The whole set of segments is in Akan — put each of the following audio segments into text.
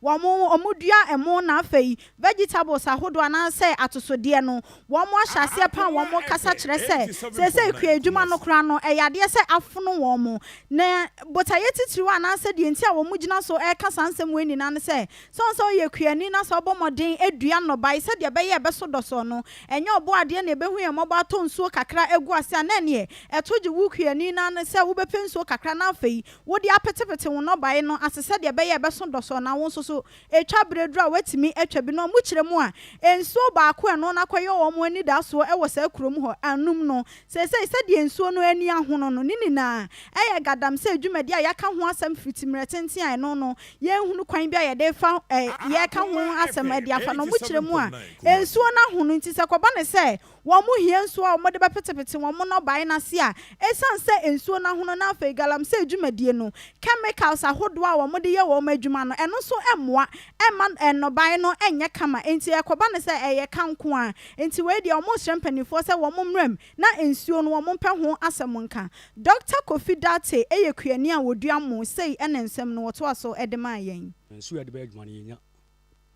Wɔn wɔdua ɛmo na afei vegetables ahodoɔ anaasɛ atosodeɛ no wɔn ahyɛ aseɛ paa wɔn kasa kyerɛ sɛ seesei kuadwuma no koraa no ɛyɛ adeɛ sɛ afono wɔn na botaeɛ titiriw anaasɛ deɛ nti a wɔn gyina so ɛreka saa nsɛm wei nyinaa ne sɛ sɛ ɔn sɛ ɔyɛ kuani na sɛ ɔbɔ mmɔden dua nnɔbae sɛdeɛ ɛbɛyɛ ɛbɛso dɔsɔɔ no ɛnyɛ ɔbɔadeɛ na ɛbɛhu yɛn mmɔbɔ atɔ nsuo kakra agu ase a na ɛneɛ ɛto gye wo kuani no ara ne sɛ wobɛpɛ nsuo kakra na afei Wode apetepete wo nnɔbae no ase sɛdeɛ ɛbɛyɛ a ɛbɛso dɔsɔɔ na wo nso so ɛtwa berɛ duru a woatumi atwa bi no a mokyerɛ mu a nsuo baako a ɛno no akɔyɛ wɔn anidasoɔ wɔ saa kurom hɔ anom no seesei sɛdeɛ nsuo no ani ahono no ne nyinaa ɛyɛ gaadamsɛ dwumadie a yɛaka ho asɛm firi ti mmerɛ tenten a ɛno no yɛnhunu kwan bi a yɛde fa yɛka ho asɛm de afa no mokyerɛ mu a nsuo no ahono nti sɛ kɔba no sɛ Wɔhia nsuo a wɔde bɛpetepete wɔn nnɔbaeɛ no ase a ɛsiane sɛ nsuo no ahono na afei galamsey dwumadie no chemicals ahodoɔ a wɔde yɛ wɔn adwuma no ɛno nso mmoa mma nnɔbaeɛ no nyɛ kama enti ɛkɔba no sɛ ɛyɛ ka nko ara enti wei deɛ wɔsrɛ mpanimfoɔ sɛ wɔn mmra mu na nsuo no wɔmpɛ ho asɛm nka. Dɔkta Kofi Dartey yɛ kuani a wɔdua mmo, sei na nsɛm no wɔtoa so de maa yɛn. Nsuo a yɛde bɛyɛ adwuma no yɛnya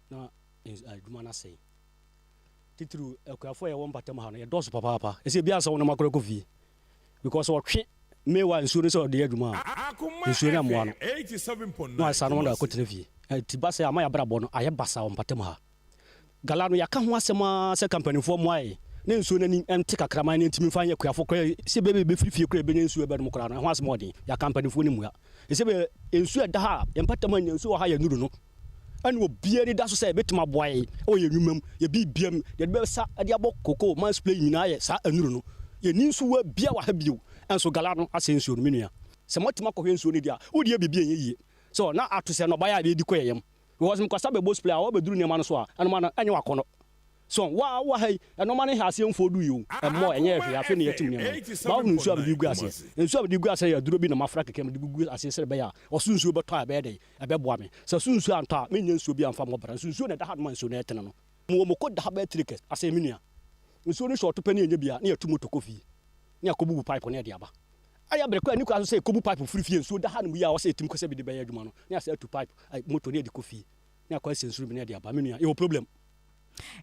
na adwuma no asɛe Titiriw akuafo a yɛwɔ mpɔtam ha no, yɛdɔɔso papaapa. Ɛsɛ ebia ansa wɔn nam akora kɔ fie. Because wɔtwe mewa nsuo no sɛ ɔde yɛ adwuma a, Akoma nsuo no ammoa FM no. eighty seven point Na nine wɔasane wɔn Kumasi. akɔtena fie. Ɛti ba sɛ ama yɛn abrabɔ no ayɛ basaa wɔ mpɔtam ha. Gala no, yɛaka ho asɛm ara sɛ ka mpanimfoɔ mmoa yɛn na nsuo no ani nte kakra ma yɛn ani ntumi mfa nyɛ akuafo koraa yi. Sɛ ebia yɛbɛfiri fie koraa a yɛbɛnya nsuo a ɛbɛnom koraa no, ɛho asɛm ɔden. Yɛaka mpanimfoɔ no mmua. Ɛsɛ ebia nsuo a ɛda ha a, yɛn mpɔtam ha nyinaa nsuo wɔ ha a yɛnnuru no. Ɛna obiara ani da so sɛ ebetumi aboa yɛn wɔ yɛn nnwuma mu, yɛn biribiara mu. Deɛ yɛde bɛsa de abɔ cocoa mines play nyinaa yɛ saa nnuru no. Yɛnni nsuwa biara wɔ ha bio. Nanso gala no asɛe nsuo no, me nua. Sɛ moatumi akɔhwɛ nsuo no deɛ a, wode yɛ biribi a ɛnyɛ yie. So na ato sɛ nnɔbaeɛ a yɛdi kɔ yɛn yam? Because mekasa bɛbɔ spray a wabɛduru nneɛma no so a, ɛnomaa no ɛnyɛ w'akɔnnɔ. So wo a wowɔ ha yi, ɛnoɔma no ha aseɛ mfɔɔ dui o, ɛmmɔɔ, ɛnyɛɛ hwee. Afei na yɛatim nneɛma no. Moahunu nsuo a mede regu aseɛ? Nsuo a mede regu aseɛ yɛ aduro bi na mafra kakra mede gugu aseɛ sɛdeɛ ɛbɛyɛ a ɔsoro nsuo bɛtɔ a ɛbɛyɛ dɛn? Ɛbɛboa me. Sɛ so nsuo antɔ a, mennya nsuo bi amfa mmɔ bra. Nso nsuo na ɛda ha no ma nsuo no ɛtene no. Mewɔ moko da ha bɛyɛ three kɛs asɛe me nua. Nsuo no hyɛ ɔto pɛ ne yɛnya bi a, ne yɛtu moto kɔ fie. Ne akɔ bubu pipe ne ɛde aba. Ɛyɛ bere koraa nni koraa nso sɛ ɛkɔbu pipe firi fie. Nsuo da ha nom yie a ɔsɛ ɛtim kɔ sɛ bide bɛyɛ adwuma no, ne asɛ atu pipe, ai, moto ne ɛde kɔ fie. Ne akɔ asiɛ nsuo no bi ne ɛde aba. Me nua, yɛwɔ problem.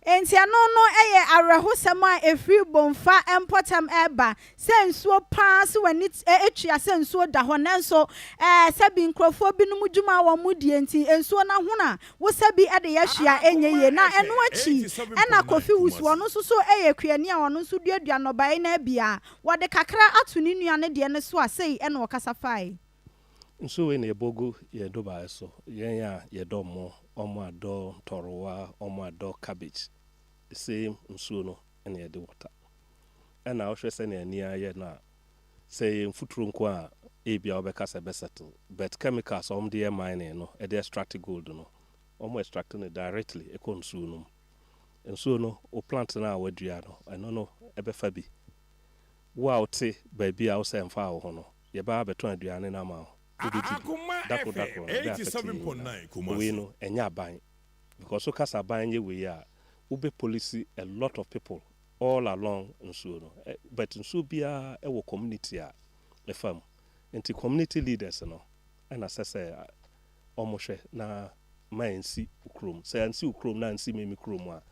Enti ɛno no yɛ awerɛhosɛm a ɛfiri Bomfa mpɔtam reba, sɛ nsuo pa ara so w'ani tua sɛ nsuo da hɔ nanso sɛbi nkurɔfoɔ binom dwuma a wɔn die nti nsuo no ahono a wo sɛbi de yɛ hwee a ɛnyɛ yie na ɛno akyi na Kofi wusu ɔno nso so yɛ kuani a ɔno nso duadua nnɔbaeɛ no abia wɔde kakra ato ne nua no deɛ no so a sei na ɔkasa fae. Nsu wei na yɛbɔgu yɛn dubaaɛ so, yɛn a yɛdɔ mo, wɔn a dɔ ntɔrowa, wɔn a dɔ cabbage, the same nsuo no na yɛde water. Ɛna wohwɛ sɛnea ani ayɛ no a, sɛ ɛyɛ mfuturo nko a, ebia wobɛka sɛ ɛbɛ settle, but chemicals a wɔde yɛ mining no, ɛde extract gold no, wɔn extract no directly ɛkɔ nsuo no mu. Nsuo no, wo plant no a woadua no, ɛno no bɛfa bi. Wo a wote baabi a wosɛ ɛmfaa wo ho no, Yɛbɛ abɛtɔn aduane no ama wo, wobɛdi bi. Dako dako no, bɛ afɛte yɛn nyinaa. Wei no, ɛnyɛ aban. Because wo ka sɛ aban nyɛ wei a, wobɛ police a lot of people all along nsuo no. But nsuo biara ɛwɔ community a ɛfa mu. Nti community leaders no ɛna ɛsɛ sɛ ɔmo hwɛ na ma ɛnsi wo kurom. Sɛ ansi wo kurom na ansi me me kurom a,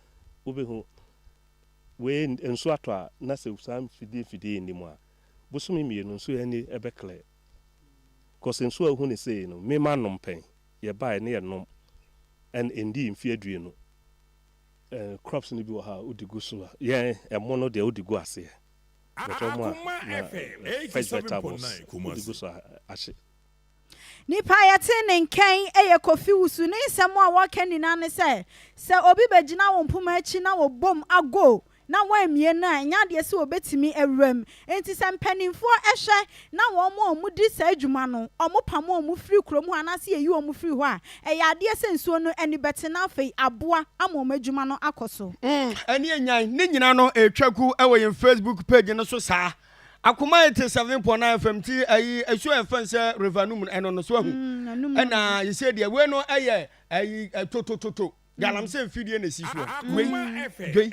wobɛhu wei nsuo atɔ a na sɛ saa mfidie mfidie yi nni mu a, Bosome mmienu nso yɛn ani bɛ clear cos nsuo a wohu no sei no me ma nom pɛn yɛbaeɛ ne yɛ nom and ɛndii mfeɛ aduonu and crops no bi wɔ hɔ a wode gu so a yɛn ɛmo no deɛ wode gu aseɛ but ɔmo a na fresh vegetables wode gu so a ahye. Nnipa a yɛte ne nkae yɛ Kofi Wusu. Ne nsɛm a wɔka nyinaa ne sɛ, sɛ obi bɛgyina wo mpoma akyi na wɔbom ago na wɔammue no a, ɛnyɛ adeɛ sɛ wɔbɛtumi awura mu. Enti sɛ mpanimfoɔ hwɛ na wɔn a wɔdi saa adwuma no, wɔpam wɔn firi kurom hɔ anaasɛ yɛyi wɔn firi hɔ a, ɛyɛ adeɛ sɛ nsuo no ani bɛte na afei aboa ama wɔn adwuma no akɔ so. Ɛnneɛ nyan ne nyina no retwa gu wɔ yɛn Facebook page no so saa. Akoma yɛ te seven pɔ na fam ti ayi ɛso ɛfɛn sɛ river no mu ɛno no so ahu ɛna yɛsɛ deɛ wei no ɛyɛ ayi totototo galamsey mfidie na esi so wei dwei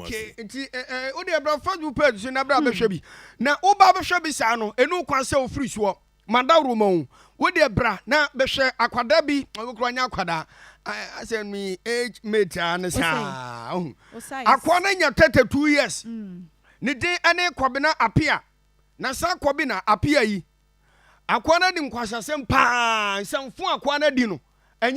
okay nti o deɛ bra facebook page so na bra bɛhwɛ bi na wo ba bɛhwɛ bi saa no ɛnu kwan sɛ ofiri soɔ Madaworo ma wo. Wo deɛ bra na bɛhwɛ akwadaa bi. Wo kura nyɛ akwadaa. Asɛ mi age mate a ne saa. Akoa no nya 32 years. Ne din ne Kwabena Apia. Na saa Kwabena Apia yi, akoa no adi nkwasasɛm paa. Nsɛmfo a akoa no adi no, ɛnyɛ.